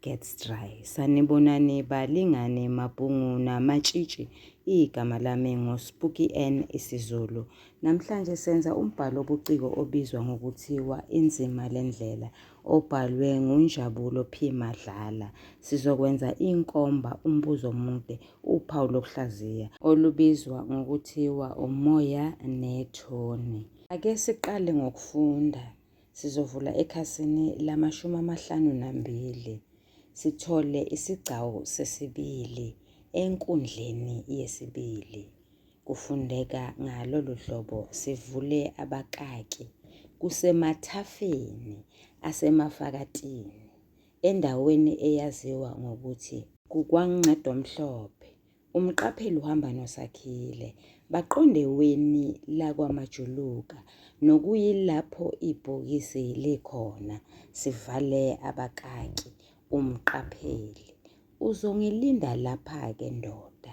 gets dry. Sanibonani balingane mabhungu namatshitshi. Igama lami nguSpooky N isiZulu. Namhlanje senza umbhalo obuciko obizwa ngokuthiwa Inzima lendlela obhalwe nguNjabulo P Madlala. Sizokwenza inkomba umbuzo omude uphawu lokuhlaziya olubizwa ngokuthiwa umoya nethoni. Ake siqale ngokufunda. Sizovula ekhasini lamashumi amahlanu nambili sithole isigcawu sesibili enkundleni yesibili. Kufundeka ngalolu hlobo sivule abakaki kusemathafeni asemafakatini endaweni eyaziwa ngokuthi kukwaNgqedomhlophe Umqapheli uhamba noSakhile baqonde weni lakwaMajuluka nokuyilapho ibhokisi likhona sivale abakaki umqapheli. Uzongilinda lapha-ke ndoda.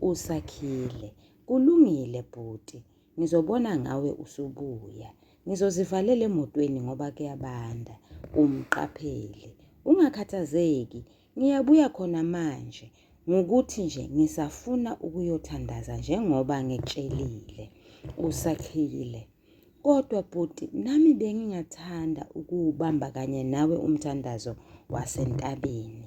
USakhile, kulungile bhuti, ngizobona ngawe usubuya. Ngizozivalela emotweni ngoba kuyabanda. Umqapheli, ungakhathazeki Ngiyabuya khona manje ngukuthi nje ngisafuna ukuyothandaza njengoba ngitshelile usakhile. Kodwa bhuti nami bengingathanda ukuwubamba kanye nawe umthandazo wasentabeni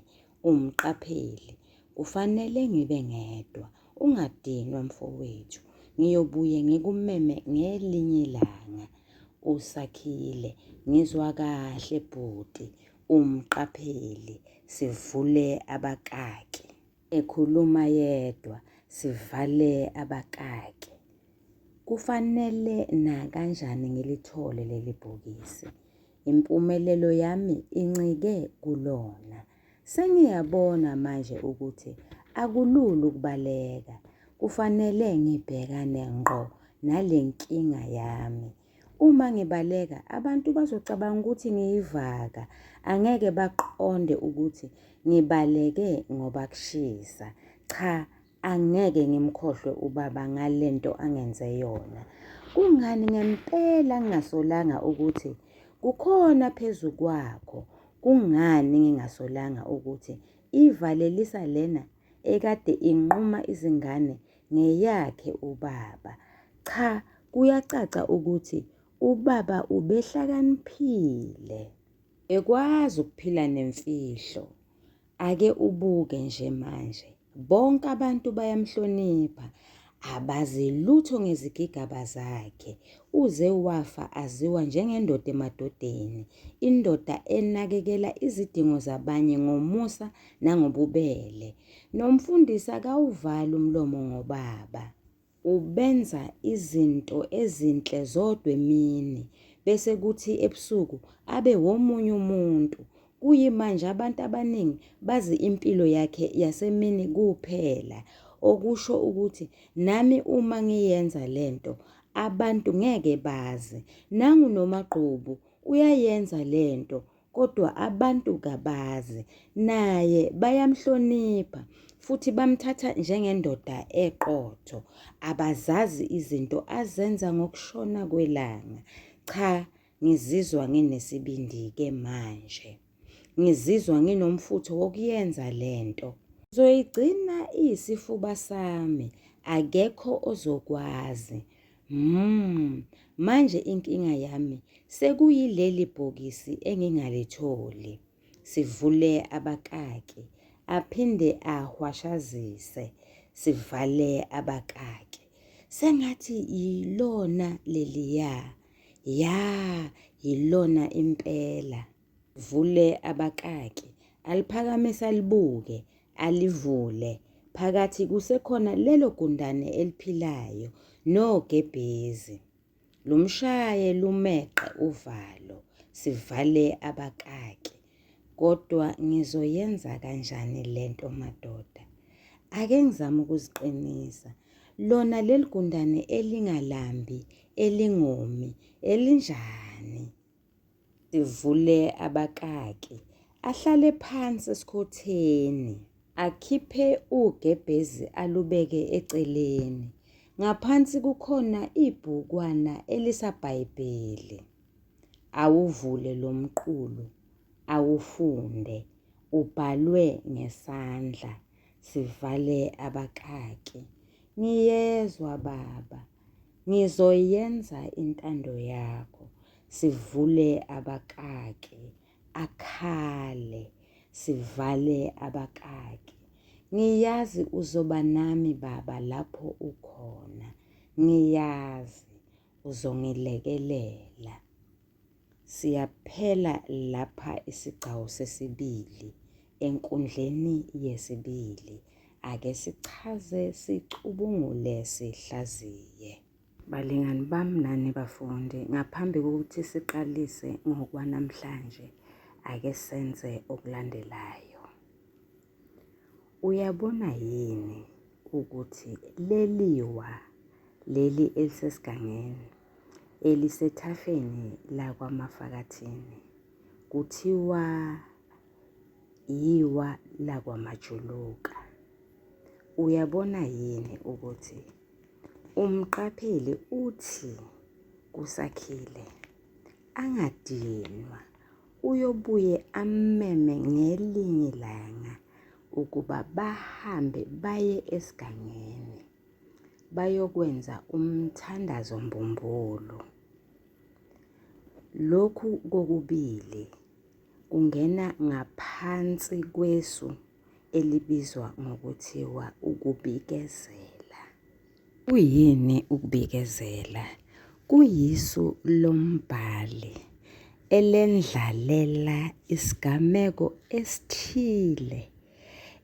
umqapheli. Kufanele ngibe ngedwa ungadinwa mfowethu ngiyobuye ngikumeme ngelinye ilanga usakhile ngizwa kahle bhuti Umqapheli, Sivule abakaki. Ekhuluma yedwa, Sivale abakaki. Kufanele nakanjani ngilithole leli bhokisi. Impumelelo yami incike kulona. Sengiyabona manje ukuthi akulula ukubaleka. Kufanele ngibhekane ngqo nale nkinga yami. Uma ngibaleka, abantu bazocabanga ukuthi ngiyivaka, angeke baqonde ukuthi ngibaleke ngoba kushisa. Cha, angeke ngimkhohlwe ubaba ngale nto angenze yona. Kungani ngempela ngingasolanga ukuthi kukhona phezu kwakho? Kungani ngingasolanga ukuthi ivalelisa lena ekade inquma izingane ngeyakhe ubaba. Cha kuyacaca ukuthi ubaba ubehlakaniphile. Ekwazi ukuphila nemfihlo. Ake ubuke nje manje. Bonke abantu bayamhlonipha. abazi lutho ngezigigaba zakhe. Uze wafa aziwa njengendoda emadodeni, indoda enakekela izidingo zabanye ngomusa nangobubele. Nomfundisi akawuvali umlomo ngobaba. Ubenza izinto ezinhle zodwa emini bese kuthi ebusuku abe womunye umuntu. Kuyimanje abantu abaningi bazi impilo yakhe yasemini kuphela, okusho ukuthi nami uma ngiyenza lento abantu ngeke bazi. Nangu noMagqubu uyayenza lento kodwa abantu kabazi. Naye bayamhlonipha futhi bamthatha njengendoda eqotho. Abazazi izinto azenza ngokushona kwelanga. Cha Ngizizwa nginesibindi-ke manje. Ngizizwa nginomfutho wokuyenza le nto. Ngizoyigcina iyisifuba sami, akekho ozokwazi. Mmm, manje inkinga yami sekuyileli bhokisi engingalitholi. Sivule abakaki, aphinde ahwashazise. Sivale abakaki. Sengathi yilona leliya. Ya, yilona impela. Vule abakaki. Aliphakamise alibuke, alivule. Phakathi kusekhona lelo gundane eliphilayo nogebhezi. Lumshaye lumeqe uvalo, sivale abakaki. Kodwa ngizoyenza kanjani le nto madoda? Ake ngizame ukuziqinisa. Lona leli gundane elingalambi, elingomi, elinjani? Sivule abakaki. Ahlale phansi esikhotheni. Akhiphe ugebhezi alubeke eceleni. Ngaphansi kukhona ibhukwana elisabhayibheli. Awuvule lo mqulu, awufunde. Ubhalwe ngesandla, sivale abakaki. Ngiyezwa, Baba. Ngizoyenza intando yakho. Sivule abakaki. Akhale, sivale abakaki. Ngiyazi uzoba nami, Baba, lapho ukhona. Ngiyazi. uzongilekelela. Siyaphela lapha isigcawu sesibili enkundleni yesibili. Ake sichaze sicubungule sihlaziye. Balingani bami nani bafundi, ngaphambi kokuthi siqalise ngokwanamhlanje, ake senze okulandelayo. Uyabona yini ukuthi leliwa leli elisesigangeni elisethafeni lakwaMafakathini kuthiwa yiwa lakwaMajuluka. Uyabona yini ukuthi umqapheli uthi kusakhile angadinwa uyobuye ammeme ngelinye ilanga ukuba bahambe baye esigangeni bayokwenza umthandazo mbumbulu. Lokhu kokubili kungena ngaphansi kwesu elibizwa ngokuthiwa ukubikezela. Kuyini ukubikezela? Kuyisu lombhali elendlalela isigameko esithile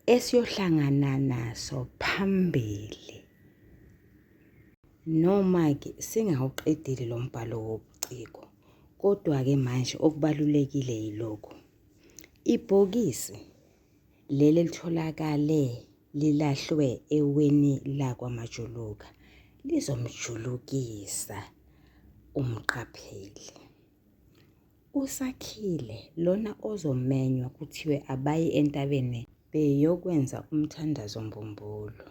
esiyohlangana naso phambili. Noma-ke singawuqedile lo mbhalo wobuciko, kodwa-ke manje okubalulekile yilokhu. Ibhokisi leli elitholakale lilahlwe eweni lakwaMajuluka lizomjulukisa umqapheli. USakhile lona ozomenywa kuthiwe abaye entabeni beyokwenza umthandazo mbumbulu.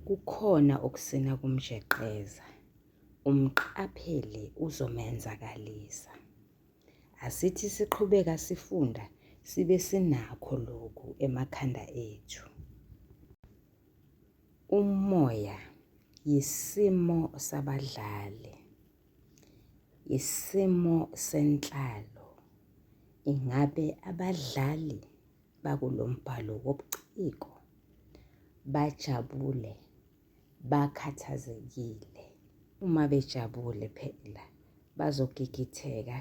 Kukhona okusina kumjeqeza, umqapheli uzomenzakalisa. Asithi siqhubeka sifunda sibe sinakho lokhu emakhanda ethu. Umoya yisimo sabadlali, yisimo senhlalo. Ingabe abadlali bakulo mbhalo wobuciko bajabule bakhathazekile. Uma bejabule phela bazogigitheka,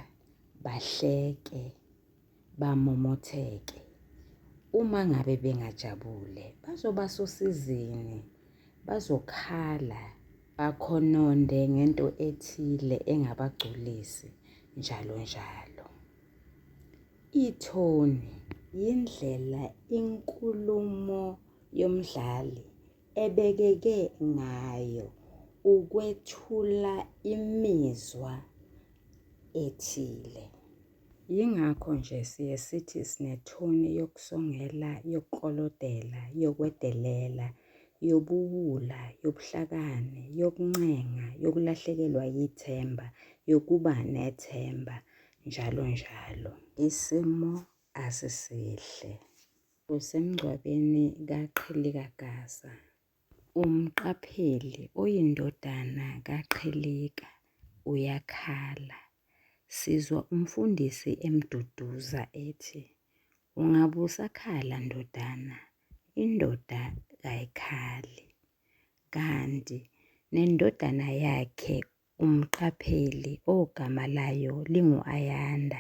bahleke, bamomotheke. Uma ngabe bengajabule bazoba sosizini, bazokhala, bakhononde ngento ethile engabagculisi njalo njalo. Ithoni yindlela inkulumo yomdlali ebekeke ngayo ukwethula imizwa ethile. Yingakho nje siye sithi sinethoni yokusongela, yokuklolodela, yokwedelela, yobuwula, yobuhlakani, yokuncenga, yokulahlekelwa yithemba, yokuba nethemba, njalo njalo. Isimo asisihle. Kusemngcwabeni kaQhilikagaza. Umqapheli oyindodana kaQhilika uyakhala. Sizwa umfundisi emduduza ethi, Ungabe usakhala ndodana, indoda kayikhali. Kanti nendodana yakhe umqapheli ogama layo lingu-Ayanda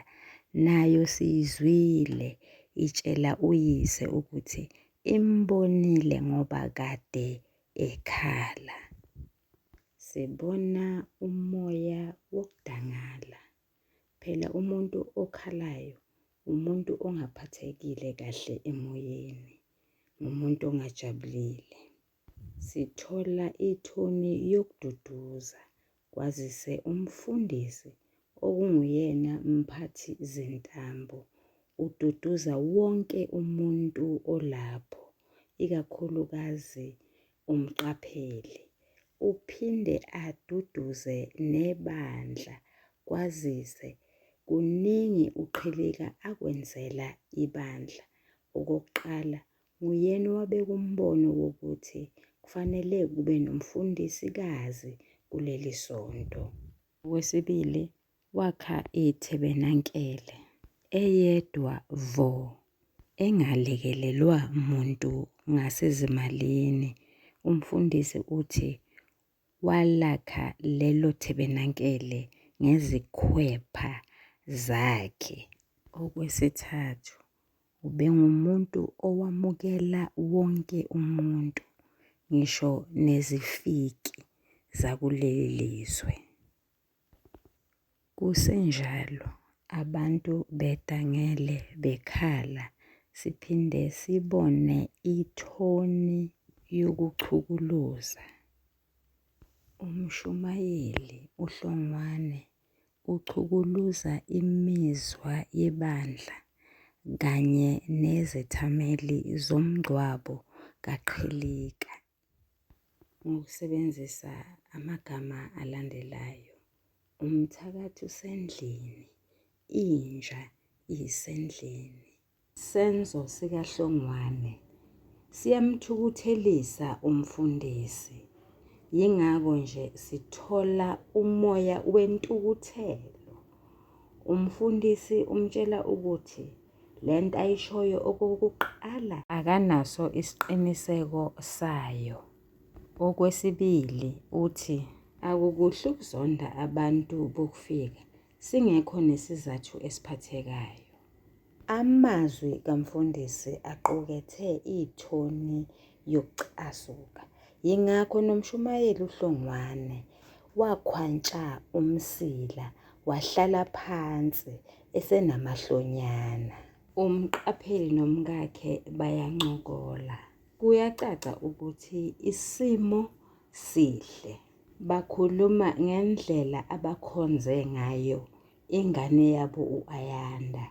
nayo siyizwile itshela uyise ukuthi imbonile ngoba kade ekhala. Sibona umoya wokudangala. Phela umuntu okhalayo umuntu ongaphathekile kahle emoyeni, ngumuntu ongajabulile. Sithola ithoni yokududuza kwazise umfundisi okunguyena mphathi zintambo ududuza wonke umuntu olapho ikakhulukazi umqapheli. Uphinde aduduze nebandla kwazise kuningi uqhilika akwenzela ibandla. Okokuqala Nguyena owabeka umbono wokuthi kufanele kube nomfundisikazi kuleli sonto. Okwesibili, wakha ithebenankele eyedwa vo engalekelelwa muntu ngasezimalini. Umfundisi uthi Walakha lelo thebenankele ngezikhwepha zakhe. Okwesithathu, ubengumuntu owamukela wonke umuntu, ngisho nezifiki zakuleli lizwe. Kusenjalo abantu bedangele bekhala siphinde sibone ithoni yokuchukuluza. Umshumayeli uHlongwane uchukuluza imizwa yebandla kanye nezethameli zomngcwabo kaQhilika. ngokusebenzisa amagama alandelayo, umthakathi usendlini, inja isendlini. Senzo sikaHlongwane siyamthukuthelisa umfundisi, yingakho nje sithola umoya wentukuthelo. Umfundisi umtshela ukuthi le nto ayishoyo okokuqala akanaso isiqiniseko sayo okwesibili uthi akukuhle ukuzonda abantu bokufika singekho nesizathu esiphathekayo amazwi kamfundisi aqukethe ithoni yokucasuka. Yingakho nomshumayeli uHlongwane wakhwantsha umsila wahlala phansi esenamahlonyana. Umqapheli nomkakhe bayancokola. Kuyacaca ukuthi isimo sihle. Bakhuluma ngendlela abakhonze ngayo ingane yabo u-Ayanda.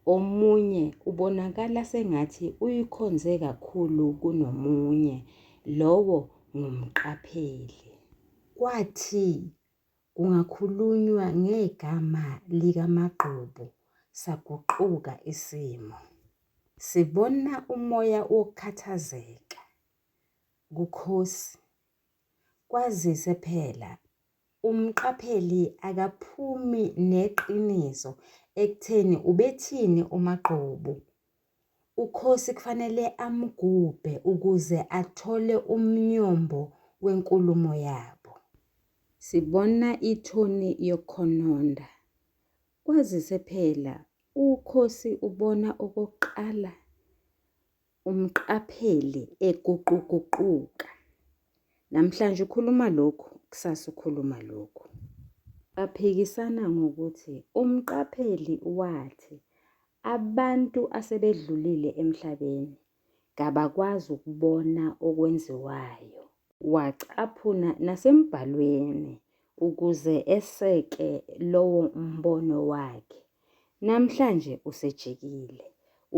Omunye ubonakala sengathi uyikhonze kakhulu kunomunye, lowo ngumqapheli. Kwathi kungakhulunywa ngegama likaMagqubu saguquka isimo. Sibona umoya wokukhathazeka kukhosi kwazise phela Umqapheli akaphumi neqiniso ekutheni ubethini uMagqubu. UKhosi kufanele amgubhe ukuze athole umnyombo wenkulumo yabo. Sibona ithoni yokukhononda. Kwazise phela uKhosi ubona okokuqala Umqaphele eguquguquka. Namhlanje ukhuluma lokhu, kusasa ukhuluma lokhu. Baphikisana ngokuthi umqapheli wathi abantu asebedlulile emhlabeni kabakwazi ukubona okwenziwayo. Wacaphuna nasembhalweni ukuze eseke lowo mbono wakhe. Namhlanje usejikile.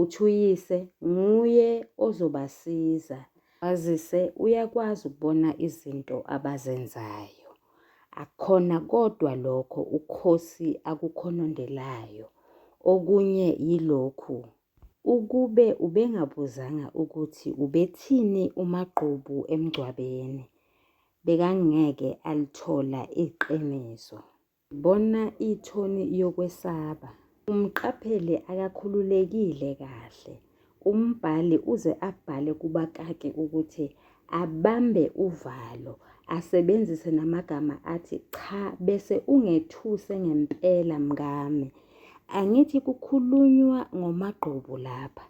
Uthi uyise nguye ozobasiza kwazise uyakwazi ukubona izinto abazenzayo. Akukhona kodwa lokho uKhosi akukhonondelayo. Okunye yilokhu, ukube ubengabuzanga ukuthi ubethini uMagqubu emngcwabeni, bekangeke alithola iqiniso. Bona ithoni yokwesaba. Umqaphele akakhululekile kahle. Umbhali uze abhale kubakaki ukuthi abambe uvalo, asebenzise namagama athi cha bese ungethuse ngempela mngame. Angithi kukhulunywa ngomagqubu lapha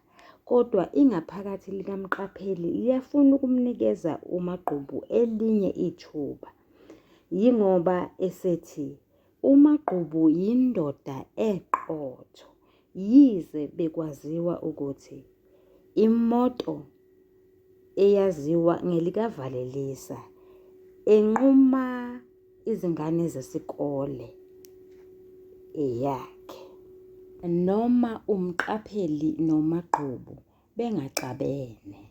kodwa ingaphakathi likamqapheli liyafuna ukumnikeza umagqubu elinye ithuba. Yingoba esethi uMagqubu yindoda eqotho yize bekwaziwa ukuthi imoto eyaziwa ngelikavalelisa enquma izingane zesikole eyakhe noma umqapheli nomagqubu bengaxabene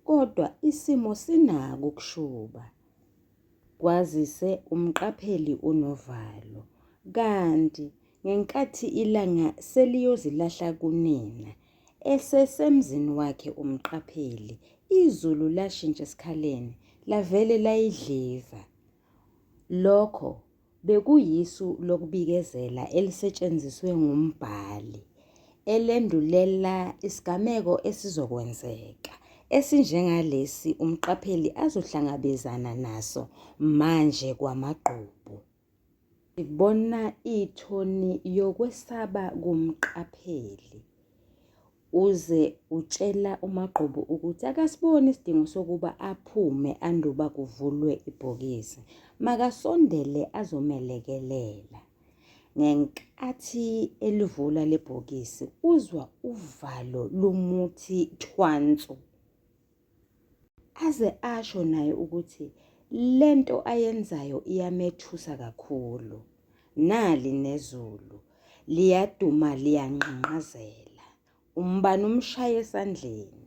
kodwa isimo sinako ukushuba Kwazise umqapheli unovalo, kanti ngenkathi ilanga seliyozilahla kunina, esesemzini wakhe umqapheli, izulu lashintsha esikhaleni, lavele layidliva. Lokho Bekuyisu lokubikezela elisetshenziswe ngumbhali elendulela isigameko esizokwenzeka esinjengalesi umqapheli azohlangabezana naso manje kwamagqubu. Sibona ithoni yokwesaba kumqapheli. uze utshela uMagqubu ukuthi akasiboni isidingo sokuba aphume anduba kuvulwe ibhokisi makasondele azomelekelela ngenkathi elivula lebhokisi uzwa uvalo lumuthi thwansu aze asho naye ukuthi lento ayenzayo iyamethusa kakhulu nali nezulu liyaduma liyanqanqazela umbani umshaye esandleni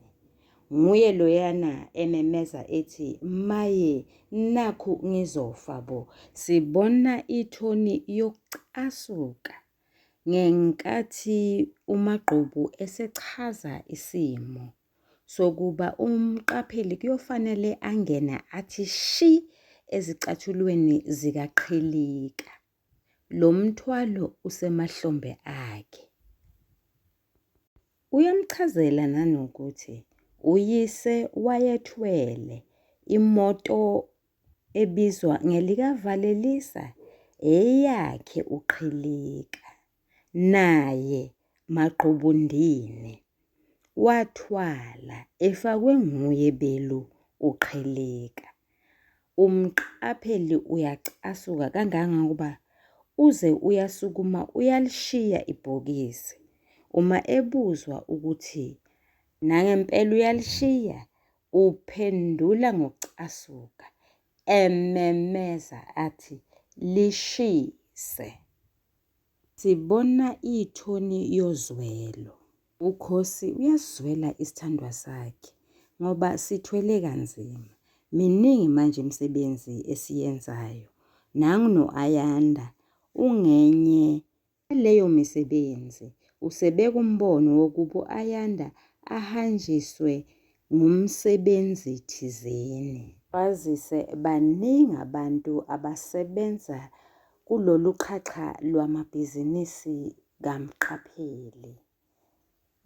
nguye loyana ememeza ethi maye nakhu ngizofa bo sibona ithoni yokucasuka ngenkathi umagqubu esechaza isimo sokuba umqapheli kuyofanele angene athi shi ezicathulweni zikaqhilika. Lo mthwalo usemahlombe akhe. Uyamchazela nanokuthi uyise wayethwele imoto ebizwa ngelikaValelisa eyakhe uqhilika. naye Maqubundini wathwala efakwe nguye belu uqheleka. Umqapheli uyacasuka kangangokuba uze uyasukuma uyalishiya ibhokisi. Uma ebuzwa ukuthi nangempela uyalishiya, uphendula ngokucasuka, ememeza athi, Lishise! Sibona ithoni yozwelo. Ukhosi uyasizwela isithandwa sakhe ngoba sithwele kanzima. Miningi manje imisebenzi esiyenzayo. Nangu no-Ayanda ungenye yaleyo misebenzi. Usebeka umbono wokuba u-Ayanda ahanjiswe ngumsebenzi thizeni. Kwazise baningi abantu abasebenza Kulolu qhaxha lwamabhizinisi kamqapheli,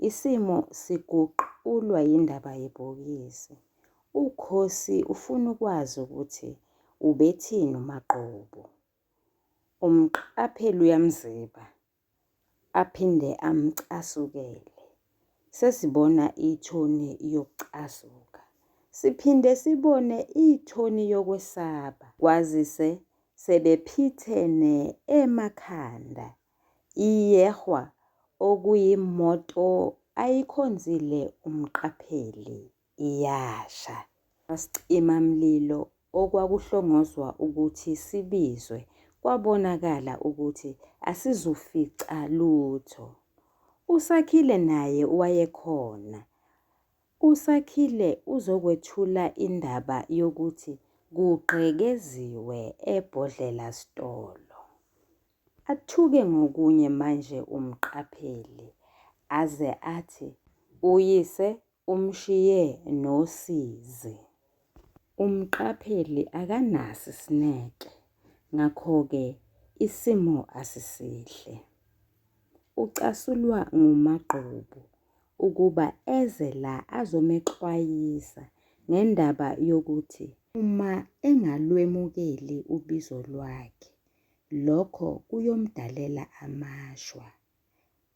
isimo siguqulwa yindaba yebhokisi. UKhosi ufuna ukwazi ukuthi ubethini uMagqubu. Umqapheli uyamziba aphinde amcasukele. Sesibona ithoni yokucasuka. Siphinde sibone ithoni yokwesaba kwazise sebephithene emakhanda. Iyehwa okuyimoto ayikhonzile umqapheli. iyasha. Abasicimamlilo okwakuhlongozwa ukuthi sibizwe kwabonakala ukuthi asizufica lutho. USakhile naye wayekhona. USakhile uzokwethula indaba yokuthi kugqekeziwe ebhodlela sitolo. Athuke ngokunye manje umqapheli aze athi uyise Umshiye nosizi. Umqapheli akanaso isineke, ngakho-ke isimo asisihle. Ucasulwa nguMagqubu ukuba eze la azomexwayisa ngendaba yokuthi uma engalwemukeli ubizo lwakhe, lokho kuyomdalela amashwa.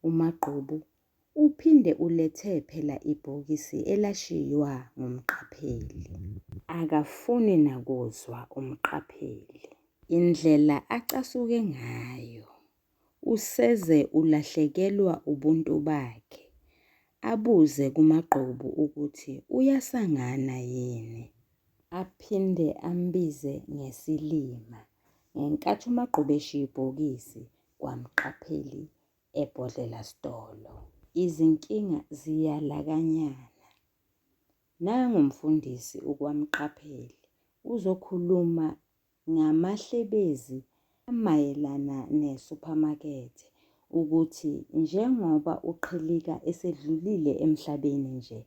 UMagqubu Uphinde ulethe phela ibhokisi elashiywa ngumqapheli. Akafuni nakuzwa umqapheli. Indlela acasuke ngayo. Useze ulahlekelwa ubuntu bakhe. Abuze kuMagqubu ukuthi uyasangana yini. Aphinde ambize ngesilima. Ngenkathi uMagqubu eshiya ibhokisi kwamqapheli ebhodlela sitolo. Izinkinga ziyalakanyana. Nangu mfundisi ukwamqapheli uzokhuluma ngamahlebezi amayelana ne-supermarket ukuthi njengoba uqhilika esedlulile emhlabeni nje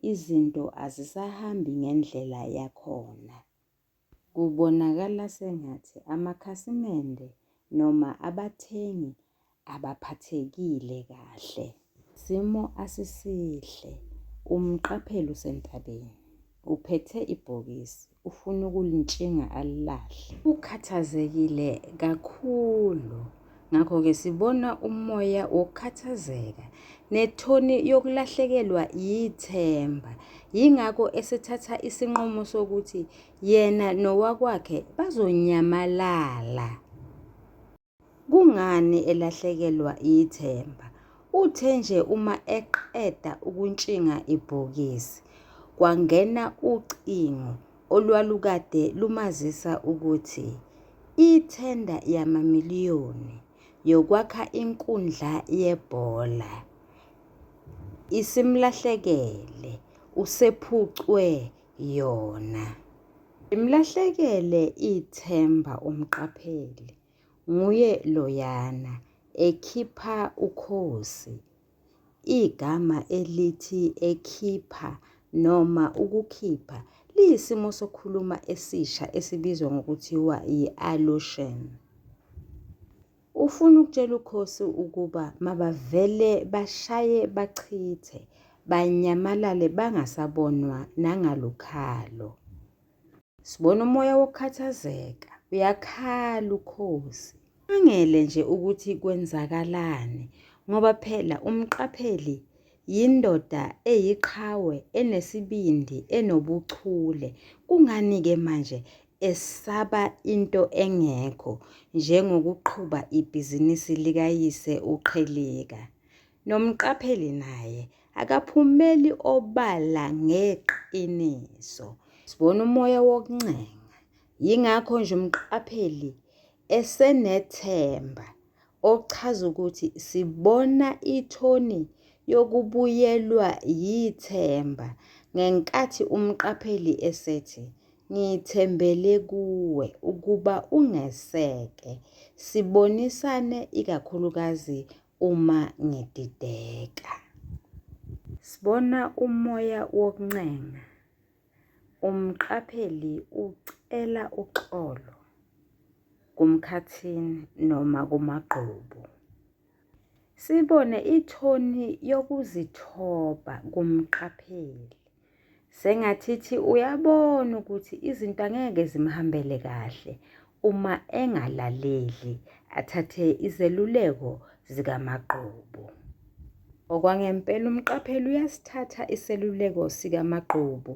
izinto azisahambi ngendlela yakhona. Kubonakala sengathi amakhasimende noma abathengi abaphathekile kahle. Isimo asisihle. Umqapheli usentabeni. Uphethe ibhokisi. Ufuna ukulintshinga alilahle. Ukhathazekile kakhulu. Ngakho-ke sibona umoya wokukhathazeka nethoni yokulahlekelwa yithemba. Yingakho esethatha isinqumo sokuthi yena nowakwakhe bazonyamalala. Kungani elahlekelwa yithemba? Uthe nje uma eqeda ukuntshinga ibhokisi, kwangena ucingo olwalukade lumazisa ukuthi ithenda yamamiliyoni yokwakha inkundla yebhola isimlahlekele, usephucwe yona. Limlahlekele ithemba umqapheli, nguye loyana, ekhipha ukhozi Igama elithi ekhipha noma ukukhipha liyisimo sokukhuluma esisha esibizwa ngokuthiwa yi-allusion. Ufuna ukutshela ukhosi ukuba mabavele bashaye bachithe, banyamalale bangasabonwa nangalukhalo. Sibona umoya wokukhathazeka. Uyakhala ukhozi. Angele nje ukuthi kwenzakalani ngoba phela umqapheli yindoda eyiqhawe enesibindi enobuchule kungani ke manje esaba into engekho njengokuqhuba ibhizinisi likayise uqheleka Nomqapheli naye akaphumeli obala ngeqiniso. Sibona umoya wokuncenga. Yingakho nje umqapheli esenethemba okuchaza ukuthi sibona ithoni yokubuyelwa yithemba ngenkathi umqapheli esethi ngithembele kuwe ukuba ungeseke sibonisane ikakhulukazi uma ngidideka. Sibona umoya wokuncenga. Umqapheli ucela uxolo kumkhathini noma kumagqubu. Sibone ithoni yokuzithoba kumqapheli. Sengathithi uyabona ukuthi izinto angeke zimhambele kahle uma engalaleli athathe izeluleko zikamagqubu. Okwangempela umqapheli uyasithatha iseluleko sikamagqubu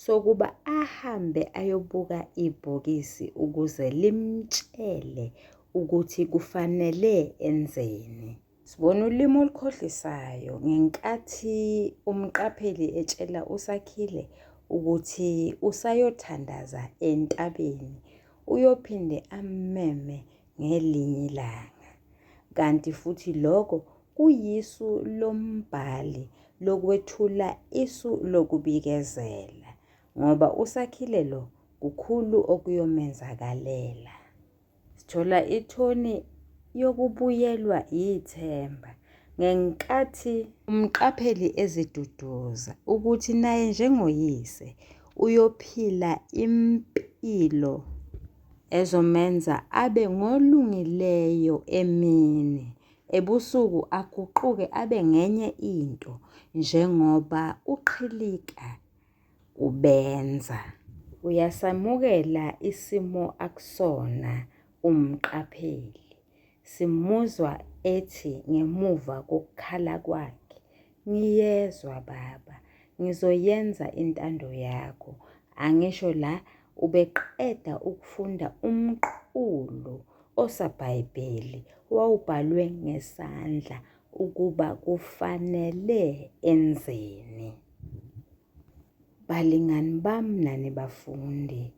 sokuba ahambe ayobuka ibhokisi ukuze limtshele ukuthi kufanele enzeni. Sibona ulimi olukhohlisayo ngenkathi umqapheli etshela uSakhile ukuthi usayothandaza entabeni uyophinde ammeme ngelinye ilanga. Kanti futhi lokho kuyisu lombhali lokwethula isu lokubikezela ngoba uSakhile lo kukhulu okuyomenzakalela. Sithola ithoni yokubuyelwa yithemba ngenkathi umqapheli eziduduza ukuthi naye njengoyise uyophila impilo ezomenza abe ngolungileyo emini ebusuku aguquke abe ngenye into njengoba uqhilika kubenza. Uyasamukela isimo akusona umqapheli. Simuzwa ethi ngemuva kokukhala kwakhe, ngiyezwa baba, ngizoyenza intando yakho. Angisho la ubeqeda ukufunda umqulu osabhayibheli wawubhalwe ngesandla ukuba kufanele enzeni. Balingani bam nani bafundi,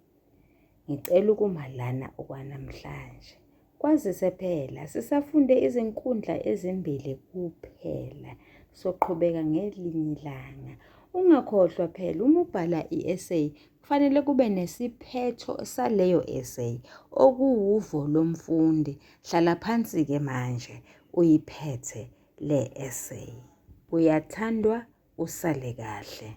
ngicela ukuma lana okwanamhlanje. Kwazise phela sisafunde izinkundla ezimbili kuphela, soqhubeka ngelinye ilanga. Ungakhohlwa phela uma ubhala i-essay kufanele kube nesiphetho saleyo essay okuwuvo lomfundi. Hlala phansi-ke manje uyiphethe le essay. Uyathandwa usale kahle.